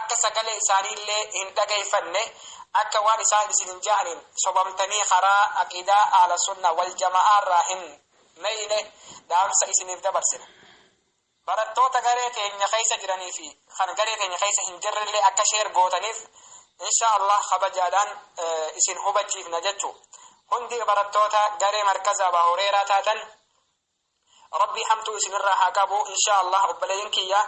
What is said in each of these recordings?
akka sagalee isaanii illee hin dhageeyfanne akka waan isaan isinin ja'aniin sobamtanii karaa aqiidaa ahla sunna wal jama'aa irraa hin meyne dhaamsa isiniif dabarsina barattoota garee keenya keeysa jiranii fi kan garee keenya keeysa hin jirre illee akka sheer gootaniif insha allah kabajaadhaan isin hubachiifna jechuu hundi barattoota garee markaza abaa hureeraa taatan Rabbii hamtuu isinirraa haa qabu inshaa Allah obboleeyyin kiyya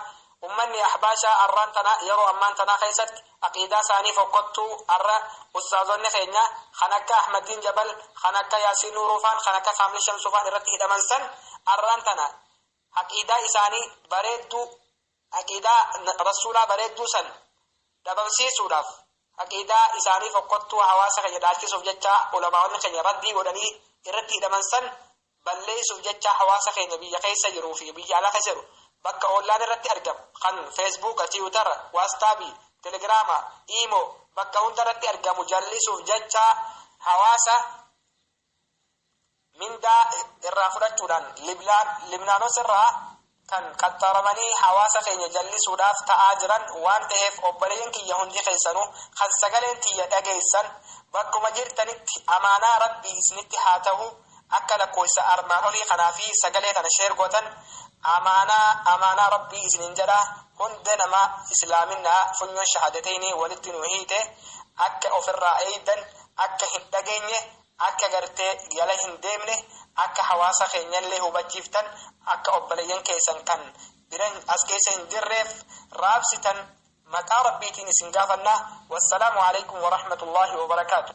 ummanni ahbaashaa arraan tana yeroo ammaan tanaa keessatti aqiidaa isaanii fokkottuu arra ustaazonni keenya kan akka Ahmaddiin Jabal kan akka Yaasiin Nuuruufaan kan akka Kaamil Shamsuufaan irratti hidhaman san arraan tana aqiidaa isaanii bareedduu Aqiidaa Rasuulaa bareedduu san dhabamsiisuudhaaf, aqiidaa isaanii fokkottuu hawaasa keenya dhaalchisuuf jecha ulamaa'onni keenya raddii godhanii irratti hidhaman san balleessuuf jecha hawaasa keenya biyya keessa jiruu fi biyya alaa keessa jiru bakka ollaan irratti argamu kan Feesbuuka, Tiwutara, Waastaabii, Telegiraama, Iimoo bakka hunda irratti argamu jallisuuf jecha hawaasa mindaa irraa fudhachuudhaan Libnaanos irraa kan qaxxaramanii hawaasa keenya jallisuudhaaf ta'aa jiran waan ta'eef obboleeyyan kiyya hundi keessanuu kan sagaleen tiyya dhageessan bakkuma jirtanitti amaanaa Rabbii isinitti haa ta'u akka lakkoofsa armaan olii kanaa fi sagalee kana sheer gootan amaanaa amaanaa Rabbii isiniin jedha hunda nama islaaminaa funyoon shahaadateynii walitti nu hiite akka ofirraa eeydan akka hin dhageenye, akka gartee jala hin deemne, akka hawaasa keenyallee hubachiiftan, akka obboleeyyan keessan kan biran as keessa hin jirreef raabsitan maqaa Rabbiitiin isin gaafanna. Wassalaamu aleykum wa rahmatullaahi wa barakaatuh.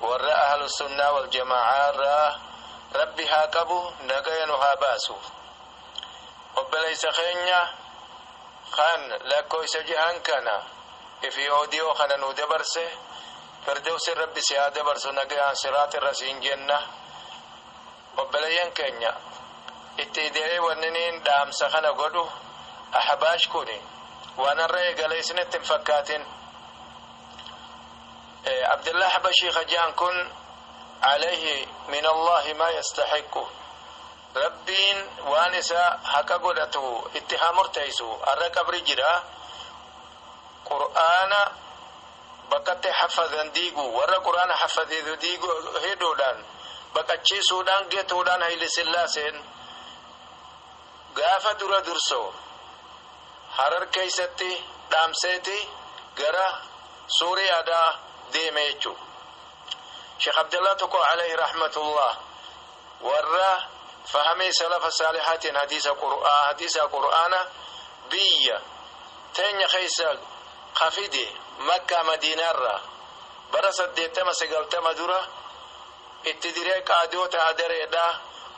Warra Ahlusunnaa wal Jamaa'aa irraa Rabbi haa qabu nagaya nu haa baasu. Obboleessa keenya kan lakkooysa jahan kana fi audio kana nuu dabarse Firdowsin Rabbi si haa dabarsu nagayaan siraax irra siin jenna. Obboleeyyan keenya itti ide'ee wanniniin dhaamsa kana godhu Ahbaash kuni waan har'a eegale isinitti hin fakkaatin. Abdallah Habashii ka je'an kun alayhi min Allahi maa yastahiqqu Rabbiin waan isa haqa godhatu itti haa murteeysu arra qabri jira qur'aana bakkatti haffadan diigu warra qur'aana haffadeetu diigu hidhuudhaan baqachiisuudhaan getuudhaan hayli sillaaseen Gaafa dura dursoo Harar keessatti dhaamseeti gara Suuriyaadhaa deeme jechuudha. Sheekh Abdallaa tokko alayhi rahmatullaah warra fahamii salafa saalihaatiin hadiisa Qur'aa hadiisaa Qur'aana biyya teenya keessa ka fide Makkaa Madiinaarraa bara saddeettama sagaltama dura Itti diree qaadoota hadareedha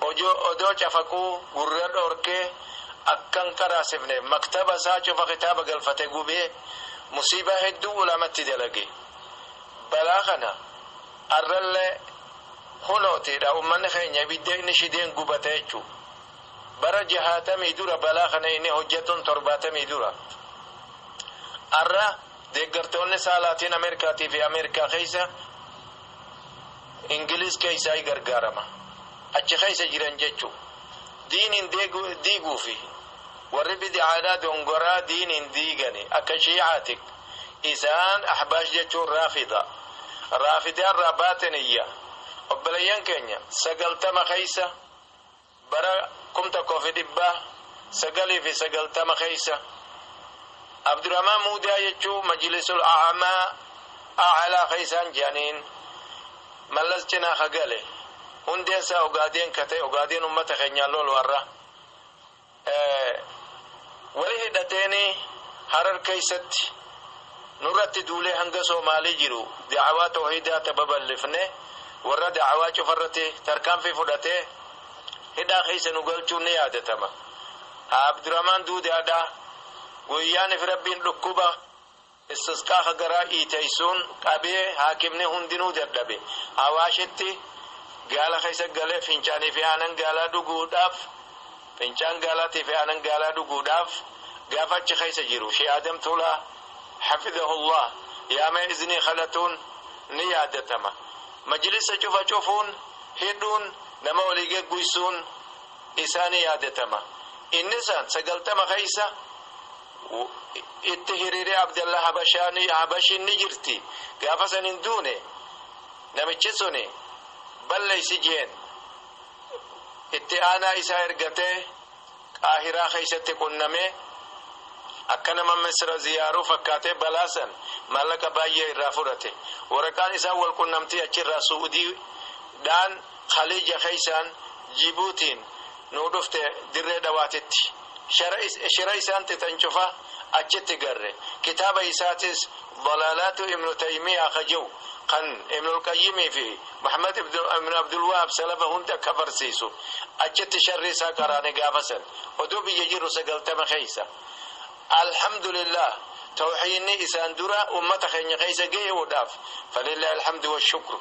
ojoo odoo cafaquu gurra dhorkee akka hin qaraasifneef maktaba isaa cufa kitaaba galfate gubee musiibaa hedduu ulamatti dalage balaa kana arrallee hunootiidha ummanni keenya ibidda inni shideen gubata jechuu bara jahaatamii dura balaa kana inni hojjatuun torbaatamii dura arra deeggartoonni isaa laatiin ameerikaatii fi ameerikaa keessa Ingiliz keessaayi gargaarama. Achi keessa jiran jechuu. Diiniin diiguufi. Warri bid'aadhaa dongoraa diiniin diigani. Akka shii'aati. Isaan ahbaash jechuun raafida. Raafidaa irraa baaxiniyya. Obboleeyyan keenya sagaltama keessa. Bara 1990 keessa Abdurahmaan Muudaa jechuu Majlisul A'amaa, A'alaa, keessaan je'aniin Mallas cinaa ka gale. Hundeen isaa Ogaadeen ka ta'e, Ogaadeen ummata keenyaan lolu har'a. Wali hidhateenii Harar keessatti. Nurratti duulee hanga Soomaalii jiru da'awaa tawhiidaa ta baballifne warra da'awaa cufarratti tarkaanfii fudhatee hidhaa keessa nu galchuun ni yaadatama. Haa Abduramaan Duudaadhaa guyyaan fi Rabbiin dhukkuba Istisqaa ka garaa dhiiteysuun qabee haakimni hundinuu dadhabe Awaashitti gaala keessa galee fincaanii fi aanan gaalaa dhuguudhaaf Fincaan gaalaatii fi aanan gaalaa dhuguudhaaf gaafa achi keessa jiru Shee Aadam Tuulaa hafidahullah yaamee iznii kadhatuun ni yaadatama. Majlisa cufa cufuun, hidhuun, nama walii gegguysuun isaa ni yaadatama. Inni san 90 keessa itti hiriiree Abdallah Habashiin ni jirti. Gaafa san hin duune namichi suni balleessi jeen. itti aanaa isaa ergatee Qaahiraa keessatti qunnamee akka nama Misira ziyaaruu fakkaatee balaa san maallaqa baay'ee irraa fudhate. Waraqaan isaan wal qunnamtii achirraa Su'udii dhaan Khaliija keessaan Jibuutiin nuu dhufte Dirree Dhawaatitti. Shira isaan tithan cufa achitti garre. Kitaaba isaatis Dalaalaatu Ibnu Taymiyaa ka je'u kan Ibnul Qayyimii fi Muhammad Ibnu Abdul Wahaab salafa hunda ka barsiisu achitti sharrii isaa qaraane gaafa san odoo biyya jirru 90 keessa. Alhamdulillaah Tawhiinni isaan dura ummata keenya keessa gaye'uudhaaf Falillaahil Hamdu Washukru.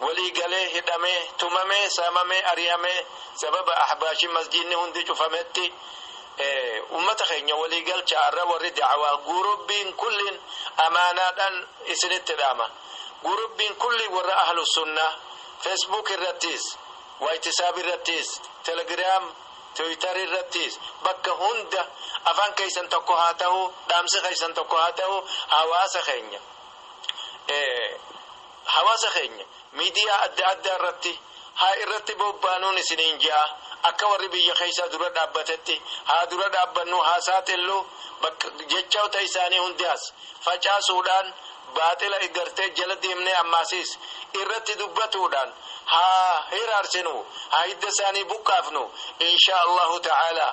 walii galee hidhamee, tumamee, saamamee, ari'amee sababa Ahbaashiin masjiidni hundi cufametti ummata keenya walii galchaa har'a warri da'awaa guurubbiin kulliin amaanaadhaan isinitti dhaama. Guurubbiin kulli warra Ahlu Sunnaa Facebook irrattiis, Waayitisaab irrattiis, Telegram, Twitter irrattiis bakka hunda afaan keessan tokko haa tahu, dhaamsi keessan tokko haa tahu hawaasa keenya. Hawaasa keenya miidiyaa adda addaa irratti haa irratti boobbaanuun isiniin je'a. Akka warri biyya keessaa dura dhaabbatetti haa dura dhaabbannu haa saaxillu bakka jechoota isaanii hundaas facaasuudhaan baaxila eggartee jala deemnee ammaasiis irratti dubbatuudhaan haa hiraarsinu haa hidda isaanii buqqaafnu inshaa Allaahu ta'aalaa.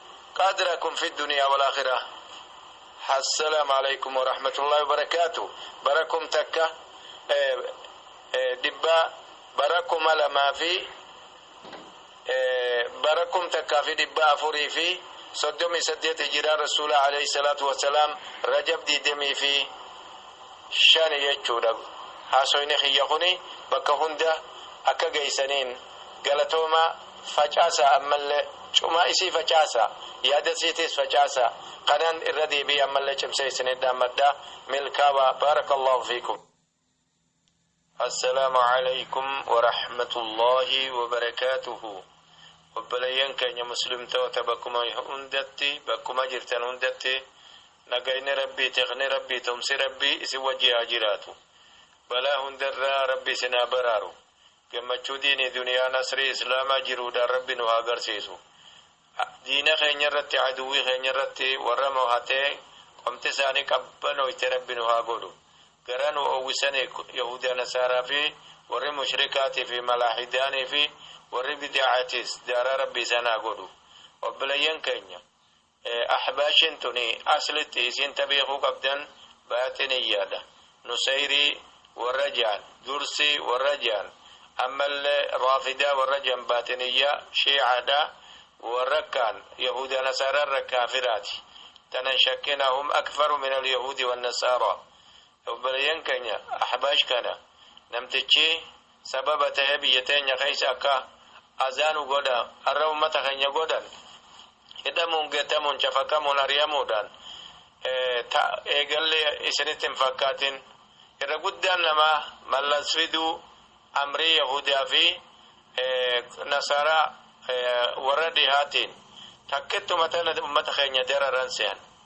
Qadrakun fi duniyaa wal akhiraa Assalam aleykum warahmatullahi wabarakatu bara kum takka dhibba bara kuma lama fi bara kum takka fi dhibba afuri fi soddomi saddeet hijiraa rasuula aleyhi salatu wasalam rajab digdamii fi shani jechuudha haasoyni kiyya kuni bakka hunda akka geysaniin Galatoomaa, facaasaa ammallee cumaa isii facaasaa, yaada isiitiis facaasaa, kanaan irra deebi'ee ammallee cimsee isiniin dhaammadha. Milkaawaa, Baarakallaahu fiikum. Assalaamu Aleykum Warahmatullaahi Wabarakatuhu Obboleeyyan keenya Muslimtoota bakkuma hundatti bakkuma jirtan hundatti nagayni Rabbii tikni Rabbii tumsi Rabbii isin wajji haa jiraatu balaa hundarraa Rabbi isin haa baraaru Gammachuu diini duniyaa nasrii islaamaa jiruudhaan rabbi nu haa garsiisu. Diina keenya irratti aduwwii keenya irratti warra mohatee qomti isaanii qabbanoyte rabbi nu haa godhu. Garaa nu owwisani yahuudaa nasaaraa fi warri mushrikaatii fi malaahidaanii fi warri bida'aatiis daaraa rabbi isaan haa godhu. Obboleeyyan keenya Ahbaashiin tuni aslitti isiin ta beekuu qabdan baaxiniyyaadha. Nusayrii warra je'an, Dursii warra je'an, ammallee Raafidaa warra je'an baaxiniyyaa, Shii'aadha. Warra kaan Yahuudaa Nasaaraa irra kaafiraati. Tana hin shakkinaa hum akfaru minal Yahuudi wannasaaraa. Obboleeyyan keenya Ahbaash kana namtichi sababa ta'ee biyya teenya keessa akka azaanu godha har'a ummata keenya godhan hidhamuun gatamuun cafaqamuun ari'amuudhaan eegallee isinitti hin fakkaatin irra guddaan namaa mallas fiduu amrii yahudaa fi nasaraa warra dhihaatiin takkittu ummata keenya dararan sehan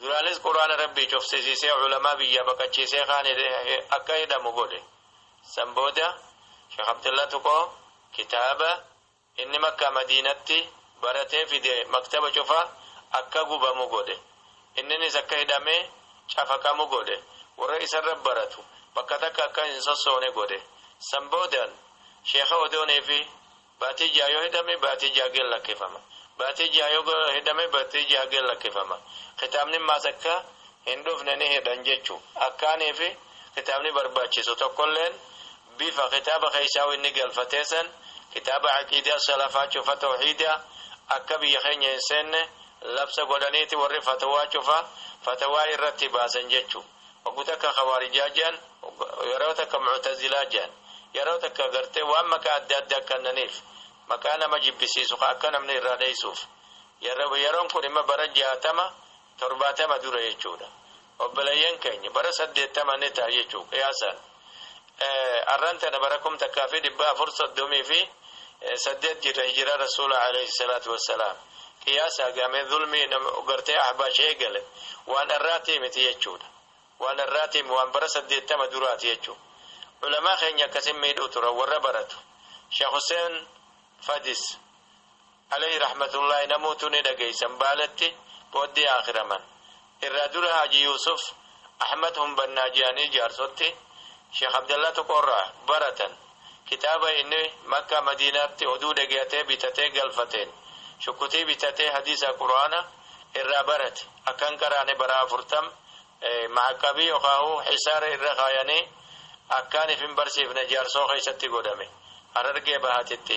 Duraanis Qur'aana Rabbii cufsisiisee ulamaa biyyaa baqachiisee kaan akka hidhamu godhe. San booda Sheikh Abdullah Tuqoo kitaaba inni Makkaa Madiinatti baratee fide maktaba cufa akka gubamu godhe. Inninis akka hidhamee cafaqamu godhe. Warra isarra baratu bakka takka akka hin sossoone godhe. San boodan Sheikha odoon fi Baatii ja'a yoo hidhame baatii ja'a gad lakkifama. Baatii ja'a yoo hidhame baatii ja'a gad lakkifama. Kitaabni maas akka hin dhufne ni hidhan jechu. Akkaanii fi kitaabni barbaachisu tokkolleen bifa kitaaba keessaahuu inni galfatee san kitaaba aqiidaa salafaa cufa towhiida akka biyya keenya hin seenne labsa godhaniiti warri fatwaa cufa fatwaa irratti baasan jechuu. Hogguu takka Khawaarijaa je'an, yeroo takka Mu'tazilaa je'an, yeroo takka gartee waan maqaa adda addaa kannaniif, maqaa nama jibbisiisu ka akka namni irraa dheeysuuf. Yeroon kun immoo bara 60, 70 dura jechuudha. Obboleeyyan keenya, bara 80 ni ta'a jechu'u, qiyaasaan. Arran tana bara kum takkaa fi dhibba afur soddomii fi saddeet jirra hijira rasuula alayhi salaatu wassalaam. Qiyaasaa gaamee zulmii gartee ahbaash eegale waan arraatii miti jechuudha. Waan arraatii waan bara saddeettama duraati jechuudha. Ulamaa keenya akkasin miidhuu turan warra baratu. Sheekh Huseen Fadis. Aleyhi rahmatullahi namutu ni dhageysan baaleti booddee aakiraman irraa dura haaji yuusuf ahmad hunbannaa je'anii jaarsoti sheekh abdallaa tuqoorraa baratan kitaaba inni makkaa madiinaatti oduu dhegeyatee bitatee galfateen shukkutii bitatee hadiisa qur'aana irraa barate akka hin qaraane baraa afurtam maa'aqqabii yokaahu hisaara irra kaayanii akkaan if hin barsiifne jaarsoo keeysatti godhame harargee bahatitti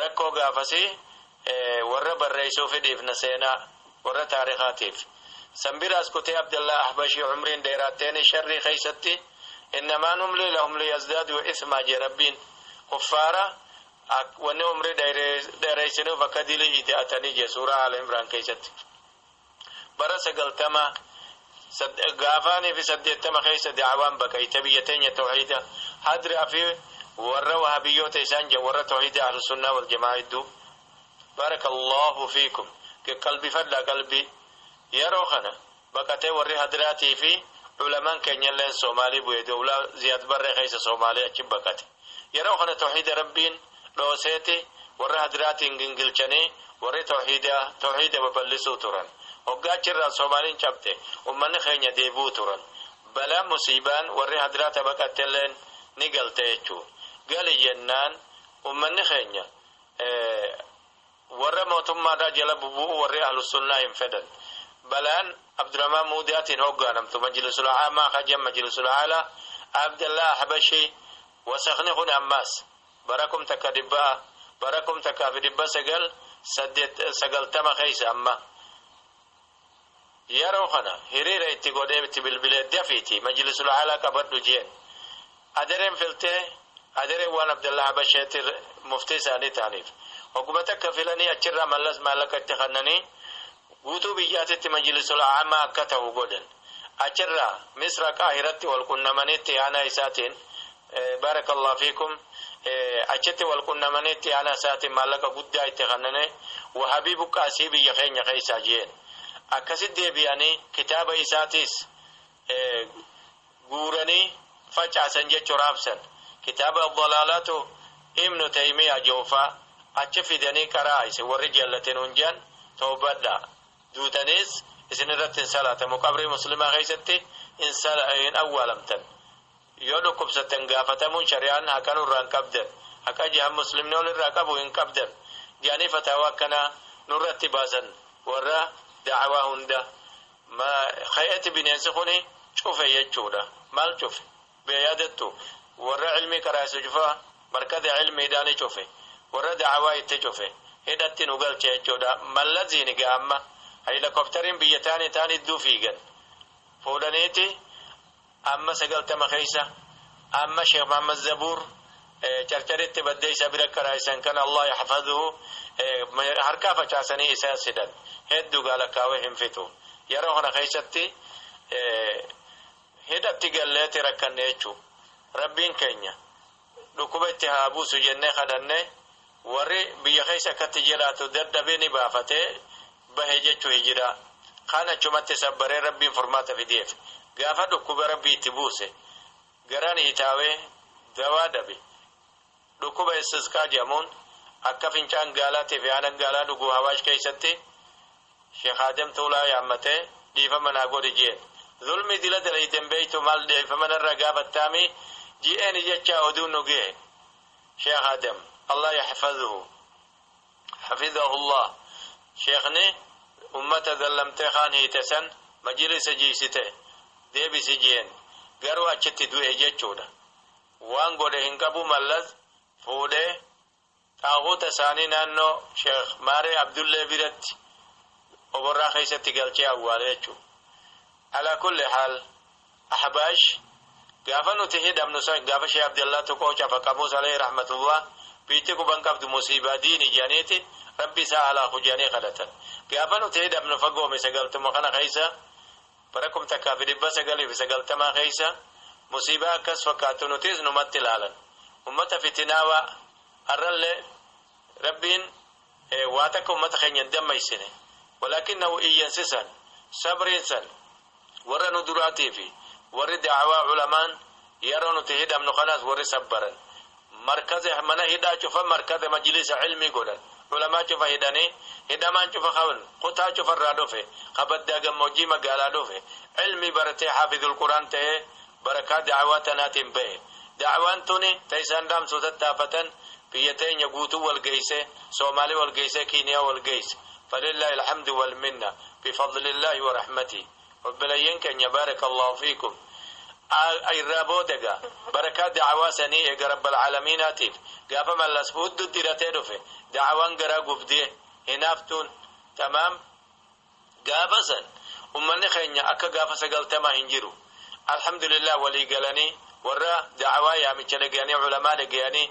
Rakkoo gaafasii warra barreessuufi dhiifna seenaa warra taarikaatiif. San biraas kutee Abdallaa Ahbashii umriin dheeraatteeni sharrii keessatti innamaa numlii lahum liyazdaaduu ithmaa jee Rabbiin. Kuffaara wanni umrii dheereessinuuf akka dilii ida'atanii jee suuraa Aala Imraan keessatti. Bara sagaltama, gaafaanii fi saddeettama keessa da'awaan baqayte biyya teenya tawhiida hadraa fi warra wahabiyyoota isaan jedhan warra tawhiida ahlusunnaa wal jamaa hedduu barakallahu fiikum qaqqalbifadhaa qalbii yeroo kana baqatee warri hadraatii fi ulamaan keenyalleen soomaalii bu'e dowlaa ziyaad barree keessa soomaalii achi baqate Yeroo kana tawhiida Rabbiin dhooseeti warra hadiraatiin gingilchanii warri tawhiidaa tawhiida baballisuu turan. Hoggaa achirraa Soomaaliin cabxe ummanni keenya deebi'uu turan. Balaan musiibaan warri hadiraa ta baqattelleen ni galte jechuun. Gali jennaan ummanni keenya Warra mootummaadhaa jala bubu'uu warri Ahlussunnaa hin fedhan. Balaan Abdurahmaan Muudiyaatiin hooggaanamtu Majlisul Aamaa ka je'an Majlisul Aalaa, Abdallaah Ahbashii, wasakni kuni ammaas, bara kum takka dhibba, bara kum takkaa fi dhibba sagal, saddeet, sagaltama keessa amma, Yaroo kana hiriira itti godhee itti bilbilee dafiiti majilisul a'alaa qabadhu jeen. Adereen filtee Adereen waan Abdallaa Habasheetti muftii isaanii ta'aniif hogguma takka filanii achirraa Mallas maallaqa itti kannanii guutuu biyyaatitti majilisul a'amaa akka ta'u godhan. Achirraa Misra Qaahiratti wal qunnamanii itti aanaa isaatiin Baarakallahu fiikum achitti wal qunnamanii itti aanaa isaatiin maallaqa guddaa itti kennine wahabii buqqaasii biyya keenya keessaa jeen akkasitti deebi'anii kitaaba isaatiis guuranii facaasan jechuu raabsan kitaaba dalaalaatu ibnu taymiyaa joofaa achi fidanii qaraa isin warri jallatin hunjaan toobadha duutaniis isin irratti hin salaatamu qabrii muslimaa keessatti hin awwaalamtan Yoo dhukkubsattan gaafatamuun shari'aan haqa nurraa hin qabdan, haqa jahan muslimni ol irraa qabu hin qabdan ja'anii fataawaa akkanaa nurratti baasan warra da'awaa hunda ma khe'etti bineensi kuni cufe jechuudha. Maal cufe? Bee yaadattu? Warra ilmii qaraasu cufa markaza ilmiidhaani cufe. Warra da'awaa itti cufe. Hidhatti nu galche jechuudha. Mallaziini gaa amma haylakoptariin biyya taani taan idduu fiigan. Fuudhaniiti Amma sagaltama keessa Amma sheikh Muhammad Zabuur carcaritti baddee isa bira qaraa'isan kana Allah yahfadhu harkaa facaasanii isa sidan heddu gaa lakkaawee hin fixu yeroo kana keessatti hidhatti galleeti rakkanne jechuu rabbiin keenya Dhukkuba itti haa buusu jennee kadhanne warri biyya keessa akkatti jiraatu dadhabee ni baafate bahe jechu hijiraa. Kaan achumatti sabbaree rabbiin furmaata fideef. Gaafa dhukkuba rabbii itti buuse garaan hitaawee dawaa dhabe. Dhukkuba istisqaa jedhamuun akka fincaan gaalaa tifi aanan gaalaa dhugu hawaash keessatti Sheikh Adam Tuulaa yaammatee dhiifama naa godhi jeen. Zulmii dila dalayde hin beektu maal dhiifama narraa gaafattaami jeeni jechaa oduun nu gehe. Sheikh Adam, Allah yahfadhuhu, hafidhahullah, Sheikhni ummata zallamtee kaan hiite san majilisa jiisite deebisi jeen. Garuu achitti du'e jechuudha. Waan godhe hin qabu Mallas fuudhee. Taaguuta isaanii naannoo Sheekh Maaree Abdullee biratti Oborraa keessatti galchee awwaale jechuudha. Alaa kulli haal, Ahbaash gaafa nuti hidhamnu san gaafa Sheekh Abdallaa Tuqoo Cafa Qamuus Aleeyhi Rahmatullaah biitti quba hin qabdu musiibaa diini jedhaniiti Rabbi isaa haa laafu jedhanii kadhatan. Gaafa nuti hidhamnu fagoo misa galtuma kana keessa Bara 1990 keessa musiibaa akkas fakkaattu nutiis numatti ilaalan. Ummata fitinaawaa har'allee Rabbiin waa takka ummata keenya hin dammaysine. Walaakinnahu iyyansi san, sabriin san warra nu duraatii fi warri da'awaa ulamaan yaroo nuti hidhamnu kanaas warri sabbaran markaza mana hidhaa cufa markaza majlisa ilmii godhan ulamaa cufa hidhanii hidhamaan cufa ka kutaa cufa irraa dhufe ka baddaa gammoojjii magaalaa dhufe ilmii baratee haafizul quraan ta'ee barakaa da'awaa tanaatiin bahe da'awaan tuni ta isaan dhaamsuu tattaafatan biyya teenya guutuu wal geeyse soomaalii wal geeyse kiiniyaa wal geeyse falillaahil hamdu wal minna bifadlillaahi wa rahmatii Obboleeyyan keenya baarakallaahu fiikum Al irraa booda egaa barakaa da'awaa sanii eega rabbal alamiinaatiif gaafa mallas huddu diratee dhufe da'awaan garaa gubdee hinaaftuun tamaam gaafa san ummanni keenya akka gaafa sagaltamaa hin jiru alhamdulillaah walii galanii warra da'awaa yaamicha dhagayanii ulamaa dhagayanii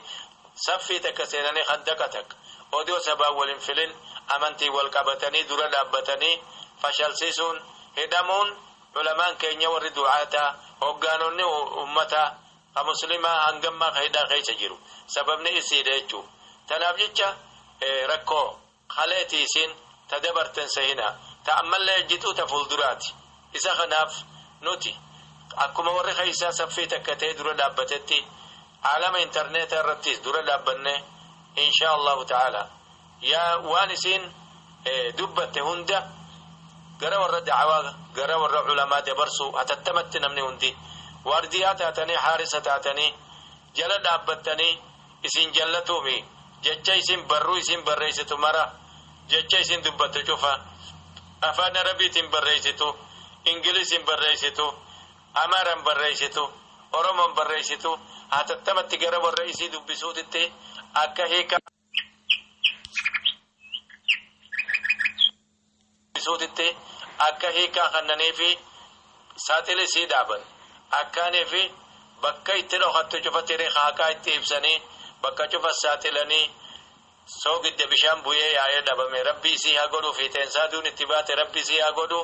Saffii takka seenanii khandaqa takka odoo sabaan wal hin filin amantiin wal qabatanii dura dhaabbatanii fashalsiisuun, hidhamuun ulamaan keenya warri du'aataa, hoggaanonni ummataa ka muslimaa hanga ammaa ka hidhaa keessa jiru sababni isii dha jechuun. Tanaaf jecha rakkoo. Kaleeti isin ta dabarten sehina, ta ammalle ejjitu ta fulduraati. Isa kanaaf nuti akkuma warri keessaa saffii takka ta'ee dura dhaabbatetti aalama interneetaa irrattis dura dhaabbannee inshaa Allaahu ta'aalaa yaa waan isiin dubbatte hunda gara warra da'awaa gara warra ulamaa dabarsuu hatattamatti namni hundi waardiyaa taatanii haarisa taatanii jala dhaabbattanii isin jallatuufi jecha isin barruu isin barreessitu mara jecha isin dubbattu cufa afaan arabiitiin barreessitu ingiliisiin barreessitu amaaraan barreessitu oromoon barreessitu hatattamatti gara warra isii dubbisuutitti akka hiika isuutitti akka hiikkaa kannaniifi saaxil isii dhaaban akkaaniifi bakka itti dhokattu cufa tiri haaqaa itti ibsanii bakka cufa saaxilanii soogidda bishaan buyee yaa'ee dhabame rabbi isii haa godhu fiixeensaa duun itti baate rabbi isii haa godhu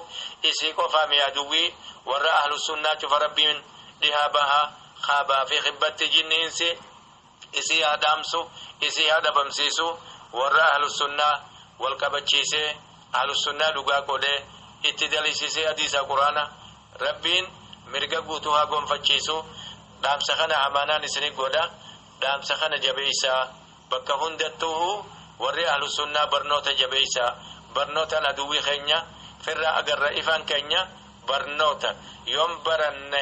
isii qofaa mi aduwwii warra ahlussunnaa cufa rabbiin dhihaa baha kaabaafi kibbatti jinni insi isii haa dhaamsu isii haa dhabamsiisu warra ahlussunnaa wal qabachiisee ahlussunnaa dhugaa qodhee itti daliisisee hadiisaa quraana rabbiin mirga guutuu haa gonfachiisu dhaamsa kana amaanaan isini godha dhaamsa kana jabeeysaa bakka hundattuuhu warri ahlussunnaa barnoota jabeeysaa barnootaan aduwwii keenya firraa agarra ifaan keenya barnoota yoon baranne